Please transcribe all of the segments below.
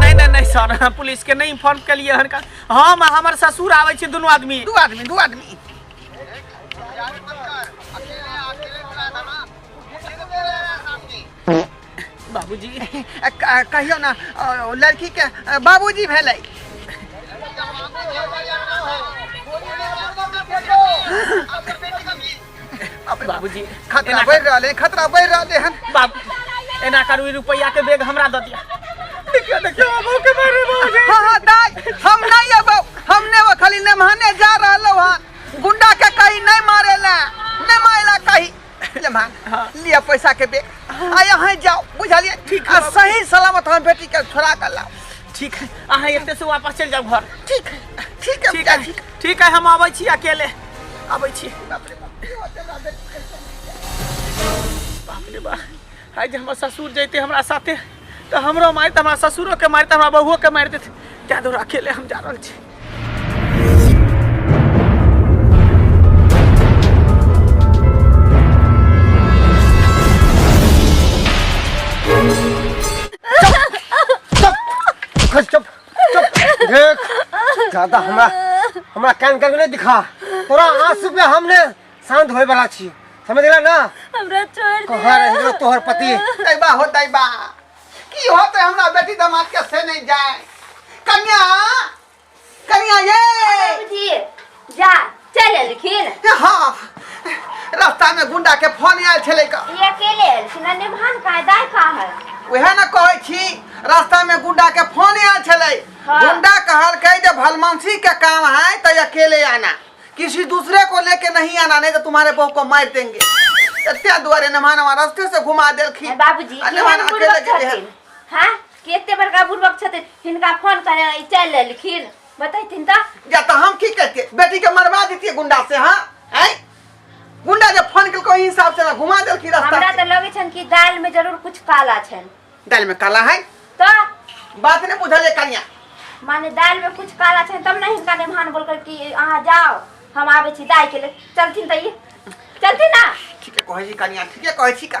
नहीं नहीं नहीं सर हम पुलिस के नहीं इन्फॉर्म कर लिए हनका हम और हमर ससुर आवे छी दोनों आदमी दू आदमी दू आदमी बाबूजी अ, क- कहियो ना अ, ओ लड़की के अ, बाबूजी भेलै बाप रे बाप। बाबूजी खतरा एना बढ़ि रहले खतरा बढ़ि रहले हन बाबू एना करू ई रुपैया के बैग हमरा दऽ दिया देखियो देखियो बाबू के मारे बाबूजी हाँ हाँ दाई हम नहीं अब हमने वो खाली नमहाने जा रहलो हन गुंडा के कहीं नहीं मारेला नहीं मारेला कहीं ले मां लिया पैसा के बे आ यहाँ जाओ बुझलिए ठीक आ सही सलामत हम बेटी के छोड़ा कर लाओ ठीक है अहाँ एते से वापस चलि जाउ घर ठीक है ठीक है ठीक बेटा, है ठीक है हम अबै छी अकेले अबै छी बाप रे बाप की होतै हमरा बेटी कैसे मिल जाए बाप रे बा आइ जे हमर ससुर जैते हमरा साथे तऽ हमरो मारि तऽ हमरा ससुरो के मारि तऽ हमरा बहूओ के मारि देते तैं दुआरे अकेले हम जा रहल छी देख ज्यादा हमरा हमरा कान कान नहीं दिखा तोरा आंसू पे हमने शांत होए वाला छी समझ गेला ना हमरा छोड़ दे कहां रह गेलो तोहर पति तैबा हो तैबा की होते हमरा बेटी दामाद के से नहीं जाए कन्या कन्या ये बाबूजी जा चल आयल खेल ए, हाँ रास्ता में गुंडा के फोन आयल छलै का ई अकेले आयल छी ना निभान का है दाय का है वएह ने कहै छी रास्ता में गुंडा के फोन आयल छलै हाँ। गुंडा कहलकै जे भलमंसी के काम है तो अकेले आना किसी दूसरे को लेके नहीं आना नहीं तो तुम्हारे बहू को मार देंगे एते दुआरे नमान हमारा रास्ते से घुमा देलखिन ए, बाबूजी आ नमान केहन अकेले बुड़बक गेलै हन। छथिन हाँ केते बड़का बुड़बक छथिन हिनका फोन करे ई चल आयल खेल बतैथिन त या तो हम की करते बेटी के मरवा देती गुंडा से हाँ हैं? गुंडा जब फोन कल कोई हिसाब से ना घुमा दल की रास्ता हमरा से। त लगै छन कि दाल में जरूर कुछ काला छन दाल में काला है त बात नहीं बुझल है कनिया माने दाल में कुछ काला छन तब नहीं हिनका नेमान बोलकर कि अहाँ जाओ हम आबै छी दाय के ले चलथिन त ई चलथिन ना ठीक है कहे जी कनिया ठीक है कहे छी का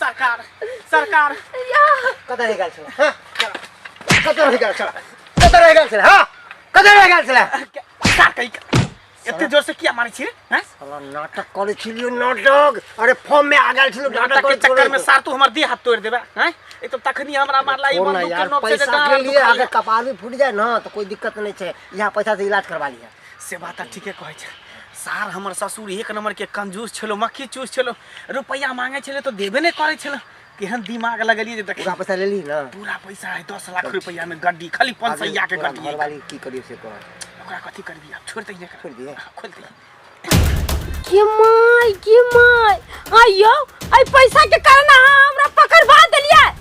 सरकार सरकार कतऽ रहि गेल छलै हँ? कतऽ रहि गेल छलै कतऽ रहि गेल छलै हँ? कतऽ रहि गेल छलै का कही एते जोर से किया मारै छी रे हैं? साला नाटक करै छलियो नाटक अरे फॉर्म में आ गेल छलियो नाटक नाटक के करै चक्कर में छलियो। सार तू हमर देह हाथ तोड़ देबे हैं एक तो तखनी हमरा मारला ई छोड़ ना बंदूक के यार नोक से पैसा के लिए अगर कपार भी फूट जाए ना तो कोई दिक्कत नहीं है यहाँ पैसा से इलाज करवा लिया से बात तऽ ठीके कहै छै सार हमर ससुर एक नंबर के कंजूस छलो मक्खी चूस छलो रुपैया मांगे छले तो देबे नहीं करे छलो केहन दिमाग लगलिए जे देखी पूरा पैसा ले ली ना पूरा पैसा है दस लाख रुपैया में गड्डी खाली पाँच सौ के तोरा गड्डी घर है। वाली की करियो से कह ओकरा कथी करबी आब छोड़ दिए छोड़ दिए खोल दिए के माय के माय आइयो आई पैसा के कारण अहाँ हमरा पकड़वा देलियै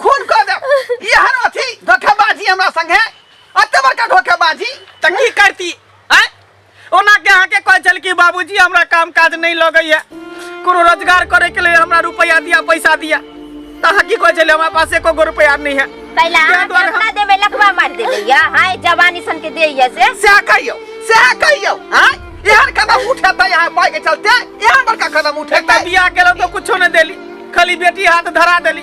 खून कऽ देब ई हर अथी धोखेबाजी हमरा संगे अते बड़का धोखेबाजी तऽ की करती आँय ओना के अहाँके कहै छल कि बाबूजी हमरा काम काज नहि लगैए कोनो रोजगार करैके लेल हमरा रुपैआ दिया पैसा दिया तऽ अहाँ की कहै छलियै हमरा पास एको गो रुपैआ नहि है पहिले ताहि अहाँ दुआरे हम- केतना देबै लखबा मारि देबै या हाय जवानी सन के दैया से सएह कहियौ सएह कहियौ आँय एहन कदम उठेतै यहाँ पाइ के चलते एहन बड़का कदम एकटा उठेतै बियाह केलहुँ तऽ कुछो नहि देली खाली बेटी हाथ धरा देली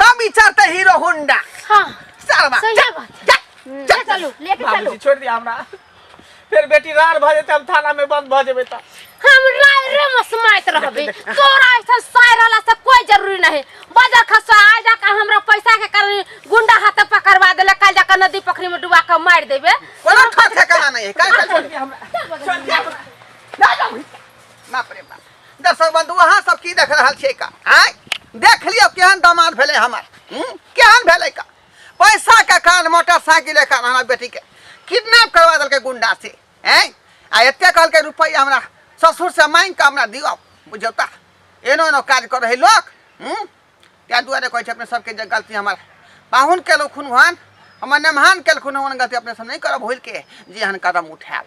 तब विचारते हीरो होंडा हाँ सरवा सही जा, बात जा, हम्म, जा, ले चलू लेके चलू बाबूजी छोड़ दिया हमरा फिर बेटी रार भ जेते हम थाना में बंद भ जेबे त हम राय रे मसमाइत रहबे तोरा ऐसा साय रहला से कोई जरूरी नहीं बाजार खसा आ जा के हमरा पैसा के कारण गुंडा हाथ पकड़वा देले काल जा के नदी पोखरी में डुबा के मार देबे कोनो ठोक ठेकाना नहीं है काहे का छोड़ दिया हमरा चल बगल छोड़ में। दिया हमरा ना जाऊ ना प्रेम दर्शक बंधु अहाँ सब की देख रहल छियै का आय देख लियो केहन दामाद भेले हमर हम्म? केहन भेले का पैसा के कारण मोटरसाइकिल के कारण हमरा बेटी के किडनैप करवा देलकै गुंडा से हैं आ एते कहलकै रुपैया हमरा ससुर से मांग के हमरा दियो बुझौ ता एनो एनो काज कर रहे लोग हम्म? ताहि दुआरे कहै छै अपने सबके जे गलती हमर पाहुन केलखुन हन हमर नेमहान केलखुन हन गलती अपने सब नहि करब भूल के जे एहन कदम उठायब